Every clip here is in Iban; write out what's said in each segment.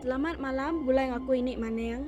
Selamat malam, bulai ngaku ini maning.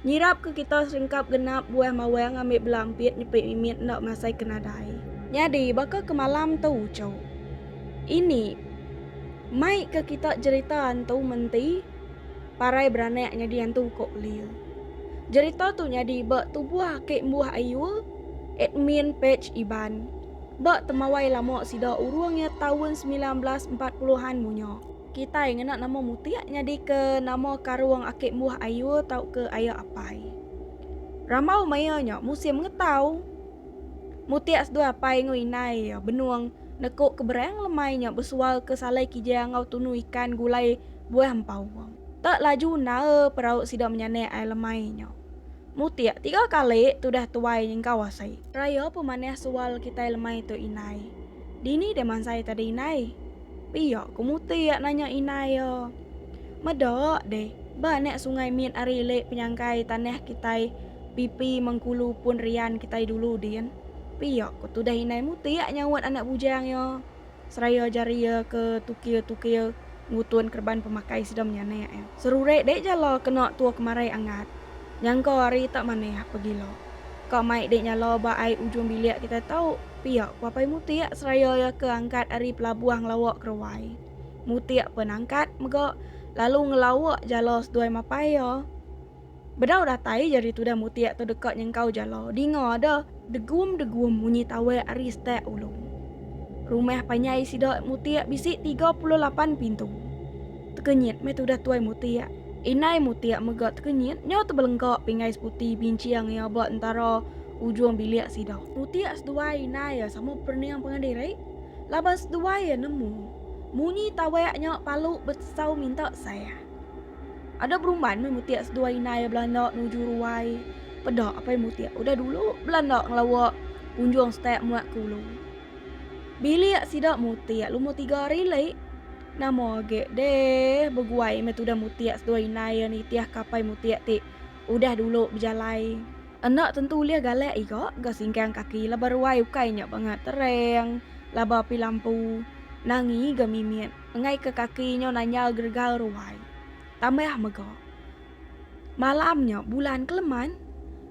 Nyirap ke kita serengkap genap buah mawang ngambi belampit nyepit mimit enda masai ke nadai. Nyadi baka ke malam tu uchu. Ini mai ke kita jerita antu menti parai beranak nyadi antu uko belia. Jerita tu nyadi ba tubuh aki embuh ayu admin page Iban ba temawai lama sida urung iya taun semilan belas empat puluh an munya. Kitai ngena nama mutik nyadika nama karung aki embuh ayuh tauka aya apai. Rambau maya nya musim ngetau. Mutik seduai apai enggau indai iya benung neko ke berang lemai nya besual ke salai kijang enggau tunu ikan gulai buah empaung. Tak laju endae perau sida menyanak ai lemai nya. Mutik tiga kali tudah tuai nyengkau asai. Raya pemanah sual kitai lemai tu indai. Dini deh mansai tadi indai. Pia ku Muti iya nanya indai iya. Meda deh, ba anak sungai mit ari ile penyangkai tanah kitai pipi Mengkulu pun rian kitai dulu din. Pia ku tudah indai Muti iya nyaut anak bujang iya seraya jari iya ke tukir-tukir ngutun kereban pemakai sida menyanak iya. Serurik deh jala kena tua kemari angat. Nyangka hari tak manah pegila. Ka mai dek nyala ba ai ujung bilik kitai tau pia ku Apai Mutik seraya iya ke angkat ari pelabuh ngelawa keruai. Mutik pen angkat mega lalu ngelawa jala seduai mapai iya. Bedau datai je ari tudah Mutik tu deka nyengkau jala dinga deh degum-degum munyi tawek ari stek ulung. Rumah panyai sida Mutik bisi tiga puluh lapan pintu. Tekenyit meh tudah Tuai Mutiak. Inai Mutiak mega tekenyit nyau tebelengka pinggai seputi binching iya ba entara ujung bilik sida. Mutiak seduai inai iya sama perening pengadiri laban seduai iya nemu munyi tawek nya palu betesau minta saya. Ada berumban meh Mutiak seduai inai iya belanda nuju ruai peda apai Mutiak udah dulu belanda ngelawa kunjung setek muat ke ulu bilik sida Mutiak lumur tiga hari leh. Nama age deh beguai meh tudah mutik seduai indai iya nitih ke apai mutik ti udah dulu bejalai. Enda tentu ulih galak iga ga singkang kaki laban ruai ukai nya bangat terang laban api lampu nangi ga mimit engai ke kaki nya nanyal geregal ruai. Tambah mega. Malam nya bulan keleman.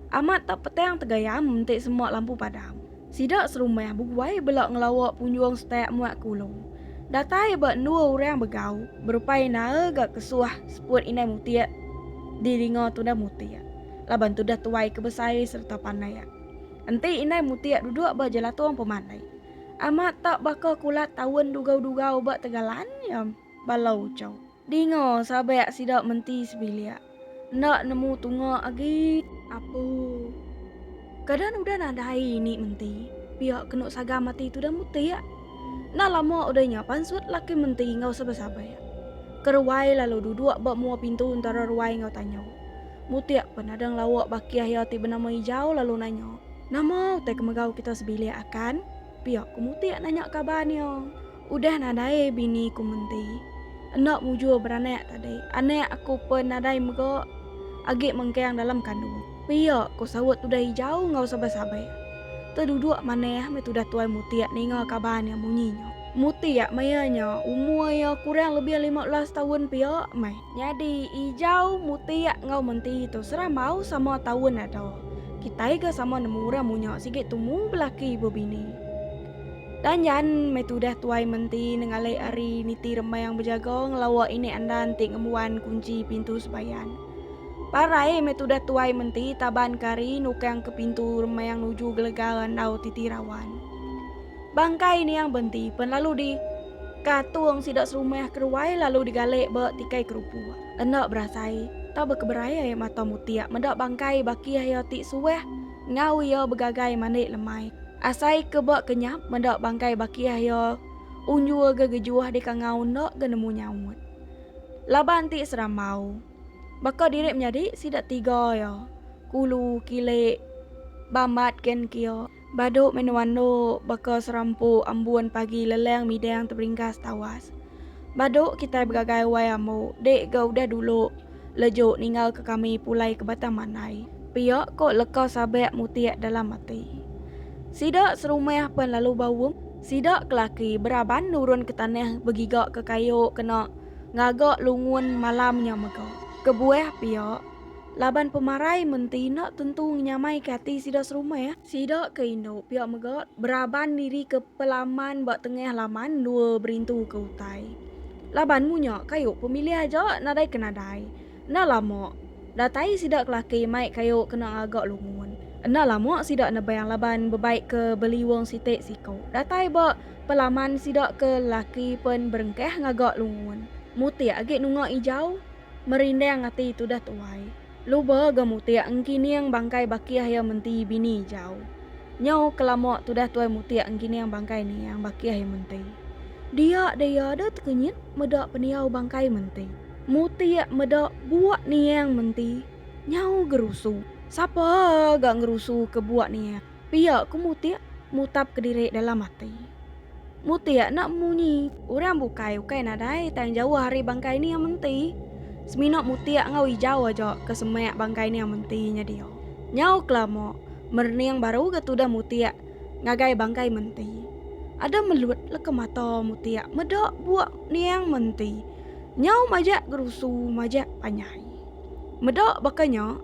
Amat tak petang tegayam enti semak lampu padam. Sida serumah beguai bela ngelawa punjung setak muat ke ulu. Datai ba endua orang begau berupai nae ga kesuah seput Indai Mutik di dinga Tuda Mutik laban tudah tuai ke besai sereta panak. Enti Indai Mutik duduk ba jelatung pemandai. Amat tak baka kulat taun dugau-dugau ba tegalan iya bala uchu. Dinga sabak sida menti sebilik. Enda nemu tunga agi. Apu. Keadaan udah nadai ini menti. Pia kenu sagam ati tudah mutik. Enda lama udah nya pansut laki menti enggau sabak-sabak. Ke ruai lalu duduk ba mua pintu entara ruai enggau tanjau. Mutik pen ada ngelauk bakih iya ti benama Ijau lalu nanya. Nama utai ke megau kita sebilik akan? Pia ku mutik nanya kaban iya. Udah nadai bini ku menti. Enda mujur beranak tadi. Anak aku pun nadai mega agi mengkang dalam kandung. Pia, ku saut Tudah Hijau enggau sabar-sabar. Tu duduk manah meh Tudah Tuai Mutik ninga kaban nya munyi nya. Mutik maya nya umur iya kurang lebih lima belas taun pia meh. Nyadi Ijau, Mutik enggau Menti tu serambau sama taun ada. Kitai ga sama nemu orang munya sigi tumu belaki bebini. Tang nyan meh tudah Tuai Menti nengalik ari niti rembai yang bejaga ngelawa inek andan ti ngembuan kunchi pintu sembayan. Parai meh tudah Tuai Menti taban ke ari nukang ke pintu rembai yang nuju gelega randau titi rawan. Bangkai Niang Benti pen lalu di katung sida serumah keruai lalu digalik ba tikai kerupuk. Enda berasai, tau bekeberai ai mata mutik meda bangkai bakih iya ti suah Enggau iya begagai mandik lemai. Asai ke ba kenyap meda bangkai bakih iya unjur ga gejuh deka enggau enda ga nemu nyaut. Laban ti serambau. Baka diri menyadi sida tiga iya, Kulu, Kilik, Bambat gen kia. Badu menua endo baka serampu ambun pagi leleng midang teberingkas tawas. Badu kitai begagai wai ambo dik ga udah dulu. Leju ninggalka kami pulai ke Batang Manai. Pia ko leka Sabak mutik dalam ati. Sida serumah pen lalu baum. Sida ke laki beraban nurun ke tanah begiga ke kayu kena ngaga lungun malam nya mega. Kebuah pia, laban pemarai menti enda tentu ngenyamaika ati sida serumah. Sida ke indu pia mega beraban nirika pelaman ba tengah laman endua berintu ke utai. Laban munya kayu pemilih aja nadai ke nadai. Enda lama, datai sida kelaki mai kayu kena ngaga lungun. Enda lama sida nebang laban bebai ke beliung siti siku datai ba pelaman sida ke laki pen berengkah ngaga lungun. Mutik agi nunga ijau, merindang ati tudah tuai. Luba ga mutik engkining bangkai bakih iya menti bini ijau. Nyau kelama tudah tuai mutik engkining bangkai niang bakih iya menti. Dia deh iya ada tekenyit meda pendiau bangkai menti. Mutik meda buak niang menti nyau gerusu. Sapa ga ngerusuka buak niang? Pia ku Mutik mutap kediri dalam ati. Mutik enda munyi. Orang bukai ukai nadai tang jauh ari bangkai Nia Menti. Semina Mutik enggau Ijau aja ke semak bangkai Nia Menti nyedia. Nyau kelama, merening baru ga tudah Mutik ngagai bangkai Menti. Ada melut leka mata Mutik meda buak Niang Menti. Nyau majak gerusu majak panyai. Meda baka nya.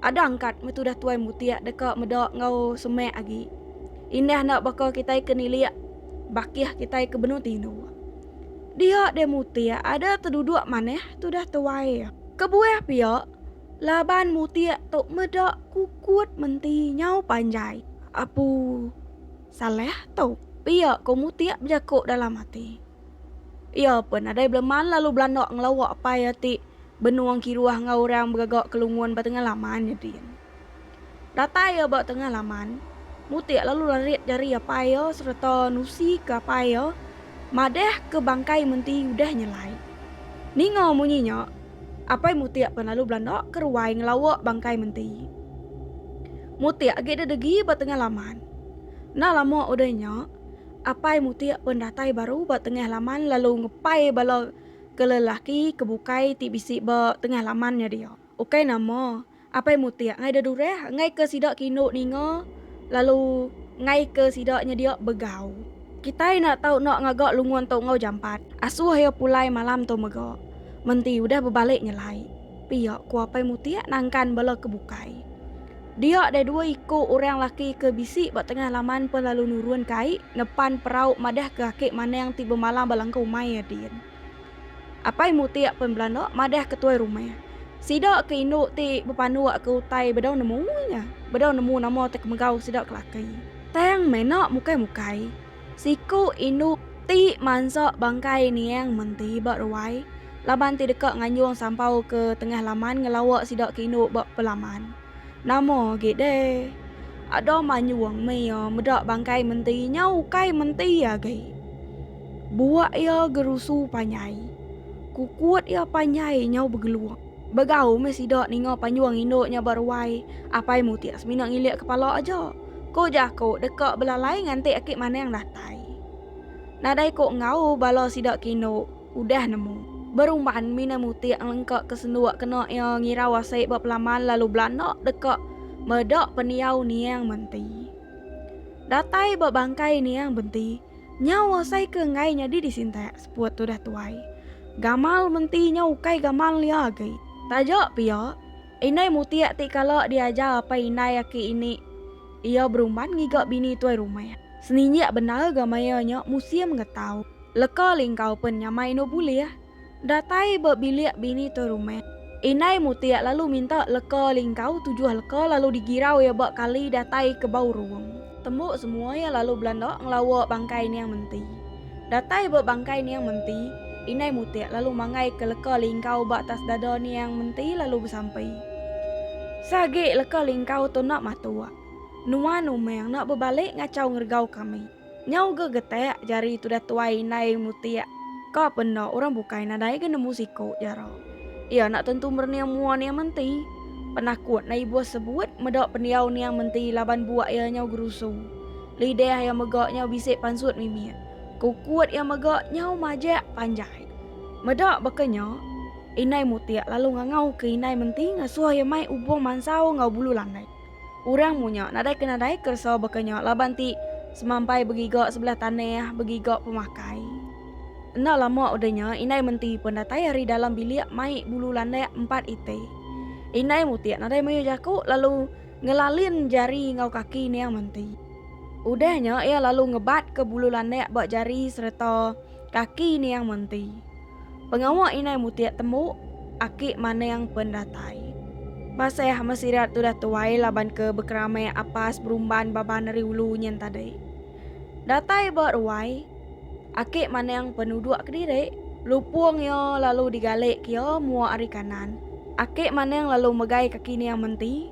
Ada angkat metudah tuai mutik deka meda enggau semak agi. Indah enda baka kitai ke nilik bakih kitai ke benung tinu. Dia deh mutik ada teduduk manah tudah tuai. Kebuah pia, laban mutik tu meda kukut menti nyau panjai. Apu Salah tu pia ko mutik bejaku dalam ati. Iya pun nadai beleman lalu belanda ngelawa apai iya ti benung kiruh enggau orang begaga ke lungun ba tengah laman nyedin. Datai iya ba tengah laman, mutik lalu larit jari apai iya sereta nusi ke apai iya madah ke bangkai menti udah nyelai. Ninga munyi nya, apai mutik pun lalu belanda ke ruai ngelawa bangkai menti. Mutik agi deh degi ba tengah laman. Enda lama udah nya. Apai Mutik pen datai baru ba tengah laman lalu ngepai bala ke lelaki ke bukai ti bisi ba tengah laman nya dia. Ukai nama, Apai Mutik ngaida durah ngaika sida ke indu ninga lalu ngaika sida nyedia begau. Kitai enda tau enda ngaga lungun tu enggau jampat. Asuh iya pulai malam tu mega. Menti udah bebalik nyelai pia, ku Apai Mutik nangkan bala ke bukai. Dia ada dua iku orang laki ke bisi ba tengah laman pe lalu nurun ke ai ngepan perau madah ke aki Manang ti bemalam ba langkau umai iya din. Apai Mutik pen belanda madah ke tuai rumah. Sida ke indu ti bepanuk ke utai bedau nemu iya, bedau nemu nama ti kemegau sida ke laki. Tang mena mukai-mukai. Siku indu ti mansa bangkai niang menti ba ruai laban ti deka nganjung sampau ke tengah laman ngelawa sida ke indu ba pelaman. Nama agi deh. Ada manjung meh iya meda bangkai menti nya ukai menti agi. Buak iya gerusu panjai. Kukut iya panjai nyau begeluk. Begau meh sida ninga panjung indu nya ba ruai, apai mutik semina ngilik kepala aja. Ko jaku deka belalai nganti aki manang datai. Nadai ko enggau bala sida kino udah nemu. Berumban mina mutik ngelengka ke senduk kena ia ngirau asik ba pelaman lalu belanda deka meda pendiau niang menti. Datai ba bangkai niang benti nyau asai ke enggai nyadi disintak seput tudah tuai. Gamal menti nyau ukai gamal lia agi. Taja pia. Indai Muti ati kala diajar apai indai aki ini iya berumban ngiga bini tuai rumah. Seninjik bendar ga maya nya musim ngetau. Leka lingkau pen nyamai endo bulih. Datai ba bilik bini tuai rumah. Indai Muti lalu minta leka lingkau tujuh leka lalu digirau iya ba kali datai ke bau ruong. Tembu semua iya lalu belanda ngelawa bangkai niang menti. Datai ba bangkai niang menti, Indai Mutik lalu mangai ke leka lingkau ba atas dada niang menti lalu besampi. Seagi leka lingkau tu enda matuk, nuan umang enda bebalik ngachau ngeregau kami. Nyau ga getak jari tudah tuai Indai Mutik, ka pe enda orang bukai nadai ga nemu siku, jara. Iya enda tentu merening mua niang menti. Penakut na ibuh sebut meda pendiau niang menti laban buak iya nyau gerusu. Lidah iya mega nyau bisi pansut mimit. Kukut iya mega nyau majak panjai. Meda baka nya, Indai Mutik lalu ngangauka Indai Menti ngasuh iya mai ubung mansau enggau bulu landai. Orang munya nadai ke nadai keresa baka nya laban ti semampai begiga sebelah tanah, begiga pemakai. Enda lama udah nya indai menti pun datai ari dalam bilik mai bulu landak empat iti. Indai mutik nadai mayuh jaku lalu ngelalin jari enggau kaki niang menti. Udah nya iya lalu ngebatka bulu landak ba jari sereta kaki niang menti. Pengawa inai mutik tembu, aki maning pen datai. Maseh mesirat tudah tuai laban ke bekeramik apas berumban baban ari ulu nyin tadi. Datai ba ruai, aki maning pen uduk kediri, lupung iya lalu digalik ke iya mua ari kanan. Aki maning lalu megai kaki nia menti,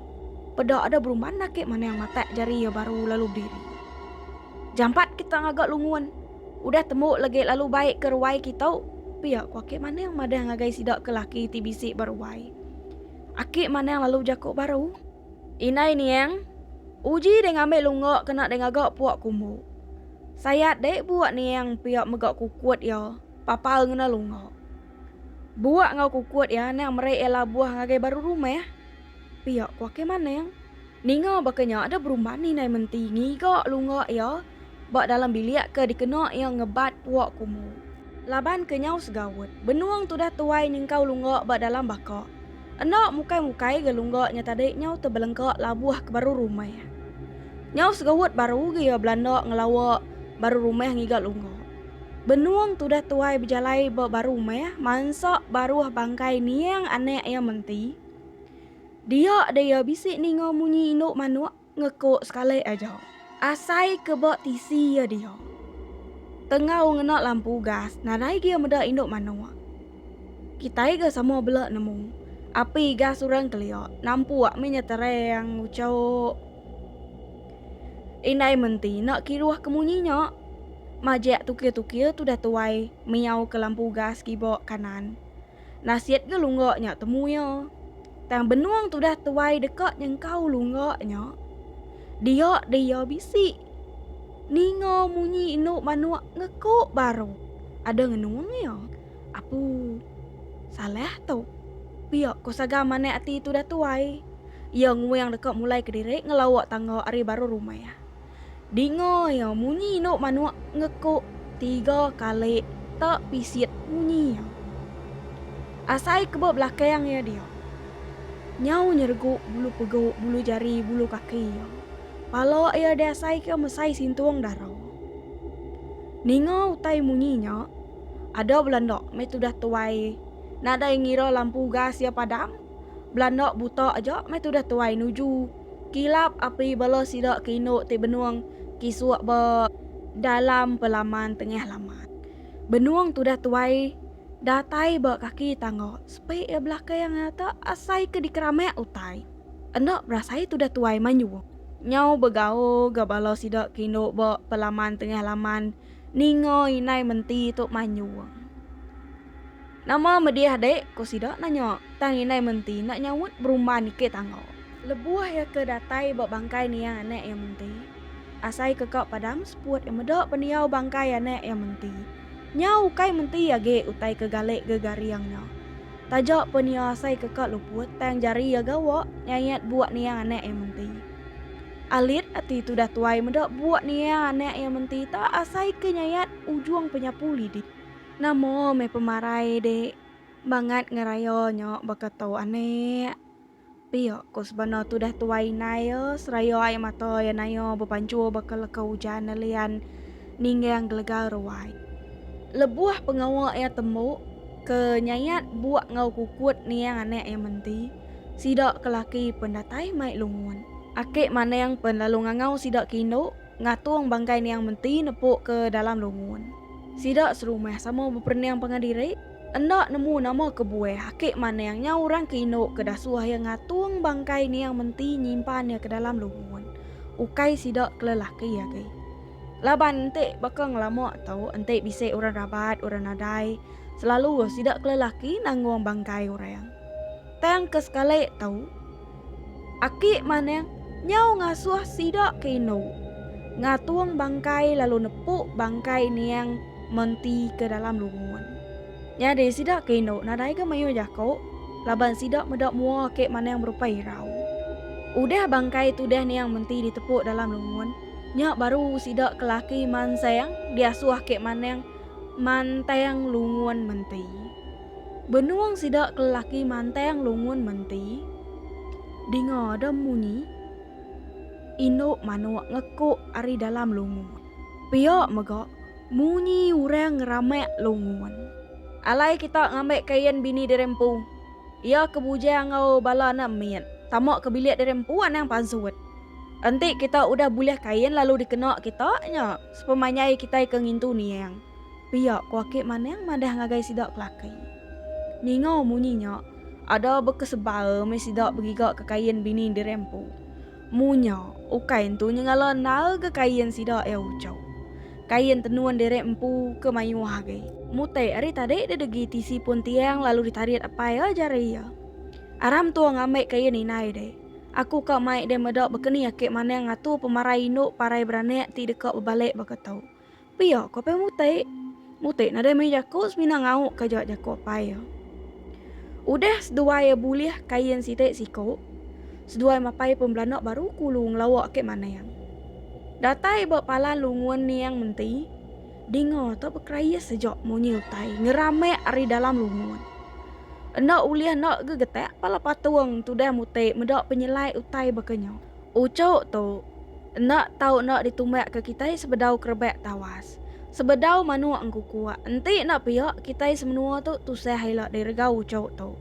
peda ada berumban aki maning matak jari iya baru lalu bediri. Jampat kita ngaga lungun. Udah tembu legi lalu baik ke ruai kitu, pia ku aki Manang madah ngagai sida ke laki ti bisi ba ruai. Aki Manang lalu jaku baru. Indai niang, uji deh ngambi lunga kena deh ngaga puak kumbu. Sayat deh buak niang pia mega kukut iya papal ngena lunga. Buak enggau kukut iya nang meri iya labuh ngagai baru rumah. Pia ku Akei Maneng. Ninga baka nya ada berumban indai menti ngiga lunga iya ba dalam bilik ke dikena iya ngebat puak kumu. Laban kenyau segaut, benung tudah tuai nyengkau lunga ba dalam baka. Enda mukai-mukai ga lunga nya tadi nyau tebelengka labuh ke baru rumah. Nyau segaut baru ga iya belanda ngelawa baru rumah ngiga lunga. Benung tudah tuai bejalai ba baru rumah mansa baruh bangkai niang anak iya menti. Dia dia bisi ninga munyi indu manuk ngeko sekali aja. Asai ke ba tisi iya dia. Tengau ngena lampu gas nadai gia meda indu manuk. Kitai ga sama bela nemu. Api gas orang kelia nampuk meh nya terang ucok. Indai menti enda kiruh ke munyi nya. Majak tukir-tukir tudah tuai miau ke lampu gas kiba kanan. Nasit ke lungga nya temu iya. Tang benung tudah tuai deka nyengkau lungga nya, dia deh iya bisi ninga munyi indu manuk ngeku baru ada ngenung iya. Apu, salah tu. Pia ko Saga manah ati tudah tuai. Iya nguing deka mulai kediri ngelauk tangga ari baruh rumah. Dinga iya munyi indu manuk ngekuk tiga kali ta pisit munyi iya. Asai keba belakang iya dia. Nyau nyeregu bulu pegu bulu jari bulu kaki iya. Pala iya diasaika mesai sintung dara. Ninga utai munyi nya ada belanda meh tudah tuai nadai ngira lampu gas iya padam belanda buta aja meh tudah tuai nuju. Kilap api bala sida ke indu ti benung kisuk ba dalam pelaman tengah laman. Benung tudah tuai datai ba kaki tangga sepi iya belakang nyata asai ke dikeramak utai. Enda berasai tudah tuai manyuh. Nyau begaul ga bala sida ke indu ba pelaman tengah laman ninga indai menti tu manyuh. Nama medih dek? ku sida nanya, tang indai menti enda nyaut berumban niki tangga. Lebuh iya ke datai ba bangkai nia anak iya menti, asai ke ka padang seput iya meda pendiau bangkai anak iya menti. Nya ukai menti agi utai ke galik gegaring nya. Taja pun iya asai ke ka luput tang jari iya gawa nyayat buk nia anak iya menti. Alit ati tudah tuai meda buk nia anak iya menti ta asai ke nyayat ujung penyapu lidi. Nama meh pemarai di bangat ngeraya nya baka tu anek. Pia ko sebana tudah tuai indai iya seraya ai mata iya naya bepanjur baka leka ujan nelian ninggang gelega ruai. Lebuh pengawa iya tembu ke nyayat buk enggau kukut niang anak iya menti, sida ke laki pen datai mai lungun. Ake manang pen lalu ngangau sida ke indu Ngatung bangkai niang menti nepuk ke dalam lungun. Sida serumah sama beperening pangan diri. Enda nemu nama kebuah aki Manang nya orang ke indu ke dasuh iya ngatung bangkai niang menti nyimpan iya ke dalam lungun. Ukai sida ke lelaki agi. Laban enti baka ngelama tu enti bisi orang rabat, orang nadai, selalu sida ke lelaki nanggung bangkai orang. Tang ke sekali tu. Aki Manang nyau ngasuh sida ke indu ngatung bangkai lalu nepu bangkai niang menti ke dalam lungun. Nyadi sida ke indu nadai ga mayuh jaku laban sida meda mua Aki Manang berupai irau. Udah bangkai tudah niang menti ditepu dalam lungun, nya baru sida ke laki mansang diasuh Aki Manang mantang lungun menti. Benung sida ke lelaki mantang lungun menti, dinga ada munyi indu manuk ngekuk ari dalam lungun. Pia mega munyi orang ngeramak lungun. Alai kita ngambi kain bini diri empu. Iya ke bujang enggau bala anak mit tama ke bilik diri empu anang pansut. Enti kita udah bulih kain lalu dikena kita nya sepemanjai kitai ke ngintu niang. Pia ku Akik Manang madah ngagai sida kelaki. Ninga munyi nya, ada bekesebal meh sida begigaka kain bini di rempu. Munya, ukai entu nyengala naga kain sida iya uchau. Kain tenun di re empu ke mayuh agi. Mutai ari tadi didegi tisi pun tiang lalu ditarit apai iya jari iya. Aram entua ngambai kain indai deh. Aku ka mai deh meda bekeni Akik Manang ngatur pemarai indu parai beranak ti deka bebalik baka tu. Pia ko apai mutik. Mutik nadai meri jaku semina ngauk ka jua jaku apai iya. Udah seduai iya bulih kain siti siku, seduai mapai pembelandak baru kulu ngelawa ake manang. Datai ba palan lungun niang menti, dinga tu bekerais seja munyi utai ngeramak ari dalam lungun. Enda ulih enda gegetak pala patung tudah mutik meda penyelai utai baka nya. Ucuk tu enda tau enda ditumbakka kitai sebedau kerebak tawas. Sebedau manuk engkukuk, enti enda pia kitai semenua tu tusah ila direga ucuk tu.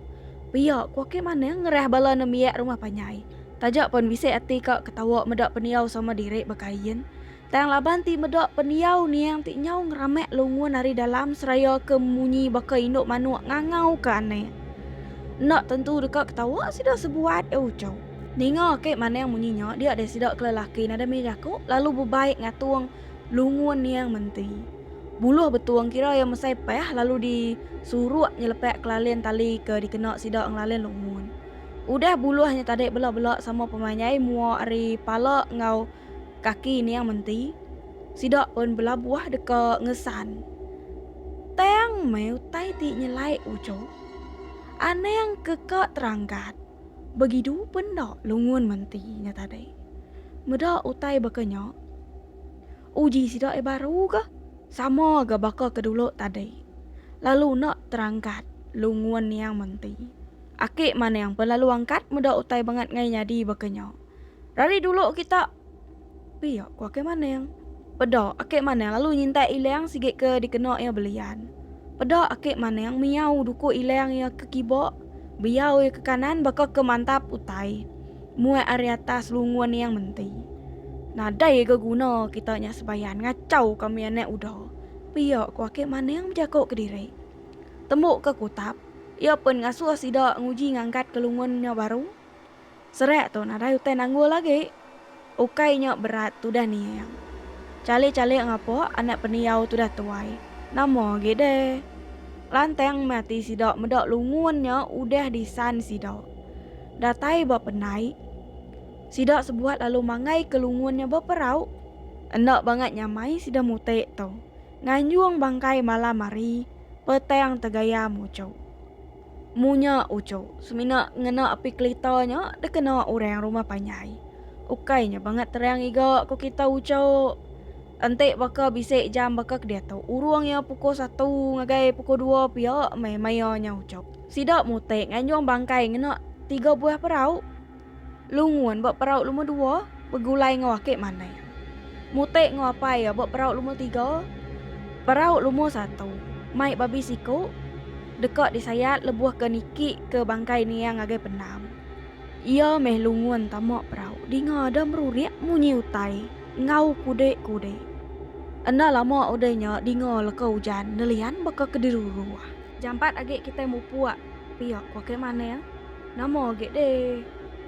Pia ku aki manah ngerah bala nembiak rumah panjai. Taja pan bisi ati ka ketawa meda pendiau sama diri baka Ian, Tang laban ti meda pendiau niang ti nyau ngeramak lungun ari dalam seraya ke munyi baka indu manuk ngangau ke anak. Enda tentu deka ketawa sida sebuat, iya uchau. Ninga ake manang munyi nya dia deh sida ke lelaki nadai mih jaku lalu bebai ngatung lungun niang menti. Buluh betung kira iya mesai pah lalu di suruk nyelepak kelalin tali ke dikena sida ngelalin lungun. Udah buluh nya tadi bela-bela sama pemanyai mua ari pala enggau. Kaki niang menti, sida pun belabuh deka ngesan. Tang meh utai ti nyelai ujung. Anang ke ka teranggat, begidu pun enda lungun menti nya tadi. Meda utai baka nya, uji sida ai baru ga sama ga baka ke dulu tadi, lalu enda teranggat lungun niang menti. Aki manang pun lalu angkat meda utai bangat ngai nyadi baka nya. Dari dulu kita pia ku ake maneng. Peda ake maneng lalu nyintai ilang sigi ke dikena iya belian. Peda ake maneng miau duku ilang iya ke kiba, biau iya ke kanan baka ke mantap utai muat ari atas lungun iya menti. Nadai ga guna kita nya sebayan ngachau ka mih anak uda, pia ku ake maneng bejaku kediri. Tembu ke kutap, iya pun ngasuh sida nguji ngangkat ke lungun nya baru. Serak tu nadai utai nanggul agi. Ukai nya berat tudah niang. Chalik-chalik ngapuk anak pendiau tudah tuai. Nama agi deh. Lantang meh ati sida meda lungun nya udah disan sida. Datai ba pendai, sida sebuat lalu manggaika lungun nya ba perau. Enda bangat nyamai sida mutik tu. Nganjung bangkai malam hari, petang tegaya muchuk. Munya uchu, semina ngena api kelita nya dikena orang rumah panjai. Ukai nya bangat terang iga ku kita uchu. Enti baka bisi jam baka ke diatu, urung iya pukul satu ngagai pukul dua pia meh maya nya uchu. Sida mutik nganjung bangkai ngena tiga buah perau. Lungun ba perau lumur dua begulai enggau ake manai. Mutek enggau apai iya ba perau lumur tiga. Perau lumur satu mai babi siku deka disayat lebuh ke niki ke bangkai nia ngagai pendam. Iya meh lungun tama perau dinga ada merurik munyi utai enggau kudik-kudik. Enda lama udah nya dinga leka ujan nelian baka ke diruruh. Jampat agi kitai mupuk pia ku ake manai. Nama agi deh.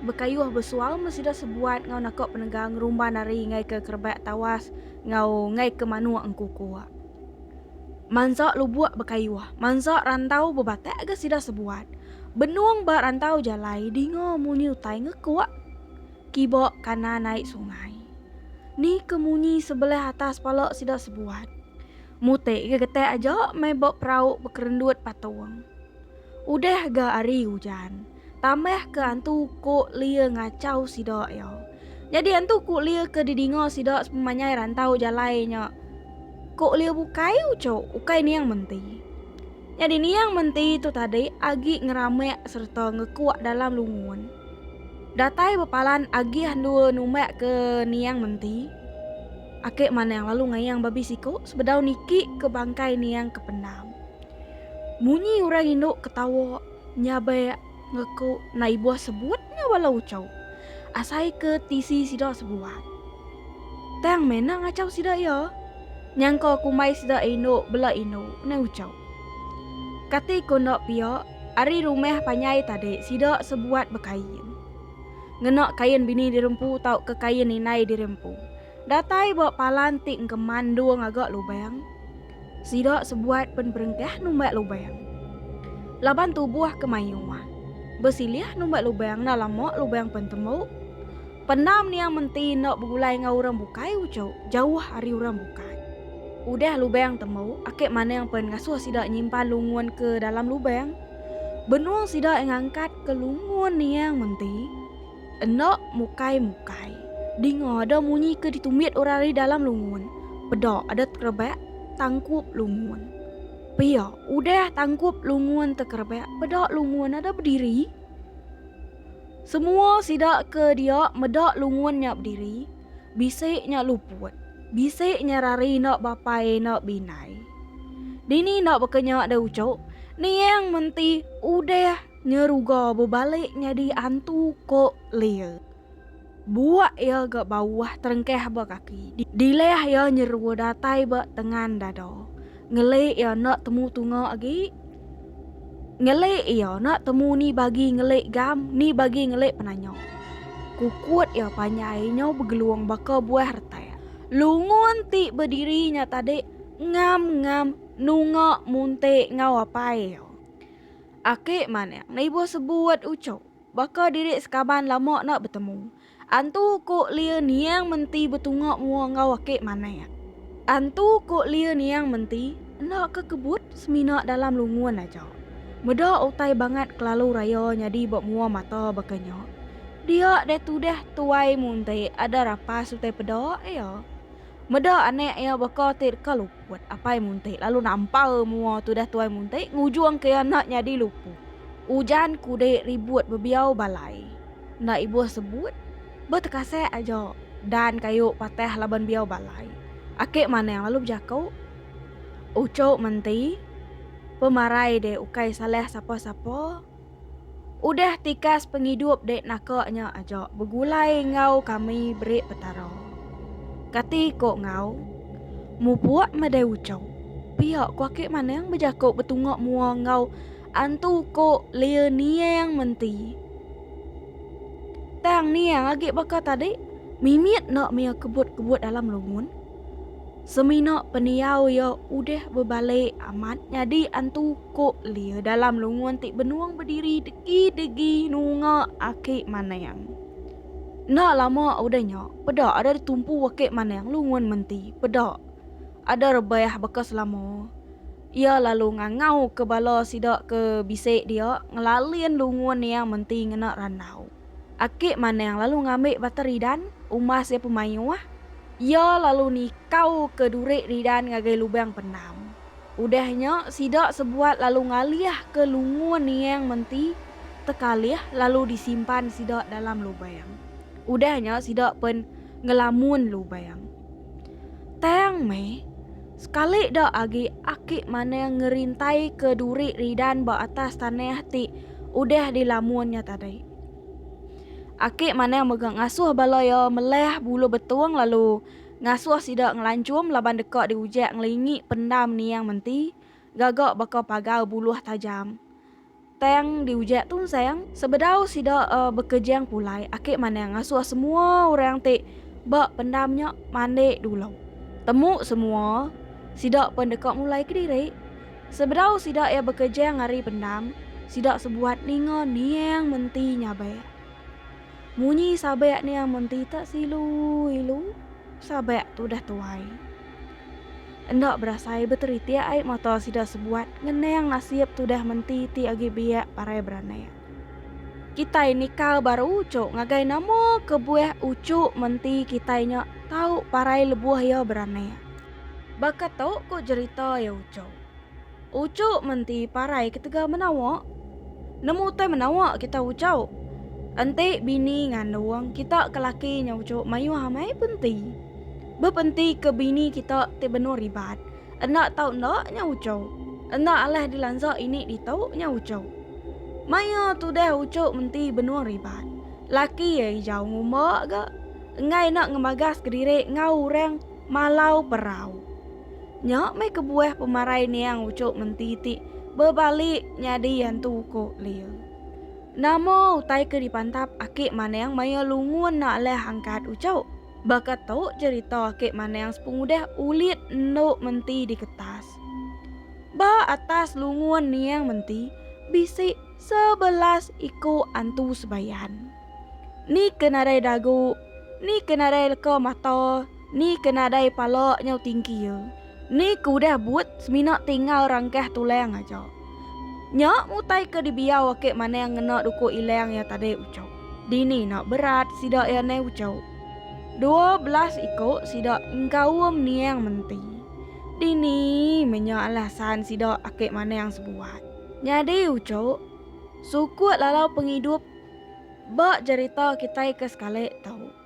Bekayuh besual meh sida sebuat enggau naka penegah ngerumban ari ngaika kerebak tawas enggau ngaika manuk engkuku. Mansa lubuk bekayuh, mansa rantau bebatak ga sida sebuat. Benung ba rantau jalai dinga munyi utai ngekuk. Kiba kanan ai sungai. Ni ke munyi sebelah atas pala sida sebuat. Mutik ga getak aja meh ba perau bekerendut patung. Udah ga ari ujan, tambah ke antu ko lia ngachau sida iya. Nyadi antu ko lia ke didinga sida sepemanyai rantau jalai nya ko lia bukai ucok, ukai niang menti. Nyadi niang menti tu tadi agi ngeramak sereta ngekuk dalam lungun. Datai bepalan agih endur numbak ke niang menti. Ake manang lalu ngayang babi siko sebedau niki ke bangkai niang ke pendam. Munyi urang indu ketawa nya be ngeku na ibuh sebut nya bala uchu. Asai ke tisi sida sebuah. Tang mena ngachau sida iya. Nyangka kumbai sida indu bela indu unai uchu. Kati ku enda pia ari rumah panjai tadi sida sebuat bekain. Ngena kain bini dirempu tauka kain indai dirempu. Datai ba palan ti engkeman endur ngaga lubang. Sida sebuat pen berengkah numbat lubang. Laban tubuh ke mayuh. Besilih numbat lubang enda lama lubang pen tembu. Pendam niang menti enda begulai enggau orang bukai uchu jauh ari orang bukai. Udah lubang tembu, Akek Manang pen ngasuh sida nyimpan lungun ke dalam lubang. Benung sida ngangkat ke lungun niang menti. Enda mukai-mukai. Dinga ada munyi ke ditumit orang ari dalam lungun. Peda ada tekerebak tangkup lungun. Pia, udah tangkup lungun tekerebak, peda lungun ada bediri. Semua sida ke dia meda lungun nya bediri, bisi nya luput. Bisi nya rari enda bapai enda bindai. Dini enda baka nya deh uchu, niang menti udah Nya ruga bebalik nyadi antu ko Lea. Buak iya ga bauah terengkah ba kaki. Dilah iya nyerua datai ba tengan dada. Ngeli iya enda temu tunga agi. Ngeli iya enda temu ni bagi ngeli gam ni bagi ngeli penanya. Kukut iya panjai nyau begelung baka buah retak. Lungun ti bediri nya tadi ngam-ngam nunga munti ngau apai iya. Aki Manik nibuh sebuut ucuk. Baka diri sekaban lama enda betemu. Antu ku Lia Niang menti betunga mua enggau Aki Manik. Antu ku Lia Niang menti enda ke kebut semina dalam lungun aja. Meda utai bangat kelalu raya nyadi ba mua mata baka nya. Dia deh tudah tuai muntik ada rapas utai peda iya. Meda anak iya baka ti deka lupa. Buat apai muntik lalu nampal mua tudah tuai muntik ngujung ke anak nyadi lupu. Ujan kudik ribut bebiau balai. Enda ibuh sebut, ba tekasek aja dan kayu patah laban biau balai. Akik manang lalu bejaku, Ucuk menti, pemarai dek ukai salah sapa-sapa. Udah tikas pengidup dek naka nya aja begulai enggau kami beri Petara. Kati ko enggau? Mupuk madai ucau. Pia ko aki manang bejako betunga mua enggau antu ko lia niang menti. Tang niang agi baka tadi mimit enda mia kebut-kebut dalam lungun. Semina pendiau ia udah bebalik amat nyadi antu. Ku Lia dalam lungun ti benung bediri degi-degi nunga aki Manang. Enda lama udah nya, peda ada ditumpu aki Manang lungun menti peda. Ada rebah baka selama. Iya lalu ngangauka bala sida ke bisi dia ngelalin lungun niang menti ngena randau. Aki Manang lalu ngambi bata ridan umbas iya pemayuh. Iya lalu nikauka duri ridan ngagai lubang penam. Udah nya, sida sebuat lalu ngalihka lungur niang menti tekalih lalu disimpan sida dalam lubang. Udah nya, sida pen ngelamun lubang. Tang meh, sekali da agi Aki Manang ngerintaika duri ridan ba atas tanah ti udah dilamun nya tadi. Aki Manang mega ngasuh bala iya melah bulu betung lalu ngasuh sida ngelanchum laban deka diujak ngelingi pendam niang menti gaga baka pagar buluh tajam. Tang diujak tunsang sebedau sida bekejang pulai aki manah ngasuh semua orang ti ba pendam nya mandi dulu. Temu semua sida pen deka mulai kediri. Sebedau sida iya bekejang ari pendam, sida sebuat ninga niang menti nyabai. Munyi sabek nih amun tita silu ilu sabek tu dah tuai. Enda berasai beteritik ai mata sida sebuat ngenang nasib tudah menti ti agi biak parai beranak. Kitai nikal baru ucuk ngagai nama kebuah ucuk menti kitai nya tau parai lebuh iya beranak. Baka tu ku jerita iya ucuk. Ucuk menti parai ketegal menawa. Nemu utai menawa kita ucuk. Enti bini ngandung kita ke laki nya ucuk mayuh amai penti. Bepenti ke bini kita ti benur ribat. Enda tau enda nya ucuk. Enda alah dilansa ini ditu nya ucuk. Maya tudah ucuk menti benur ribat. Laki iya ijau ngumba ga enggai enda ngemagaska diri enggau orang malau perau. Nya meh kebuah pemarai niang ucuk menti ti bebalik nyadi yantu uko Lil. Nama utai ke dipantap aki Manang maya lungun enda alah angkat ucuk? Baka tu cerita aki Manang sepengudah ulit endu menti di ketas. Ba atas lungun niang menti bisi sebelas iko antu sebayan. Ni ke nadai dagu, ni ke nadai leka mata, Ni ke nadai pala nyau tingki iya. Ni ke udah buut semina tinggal rangkah tulang aja. Nya ngutai ke dibiau ake manang ngena duku ilang iya tadi ucok. Dini enda berat sida iya nai ucok. Dua belas iko sida engkaum niang menti. Dini meh nya alasan sida ake manang sebuat. Nyadi ucok, sukut lalau pengidup ba jerita kitai ke sekali tu.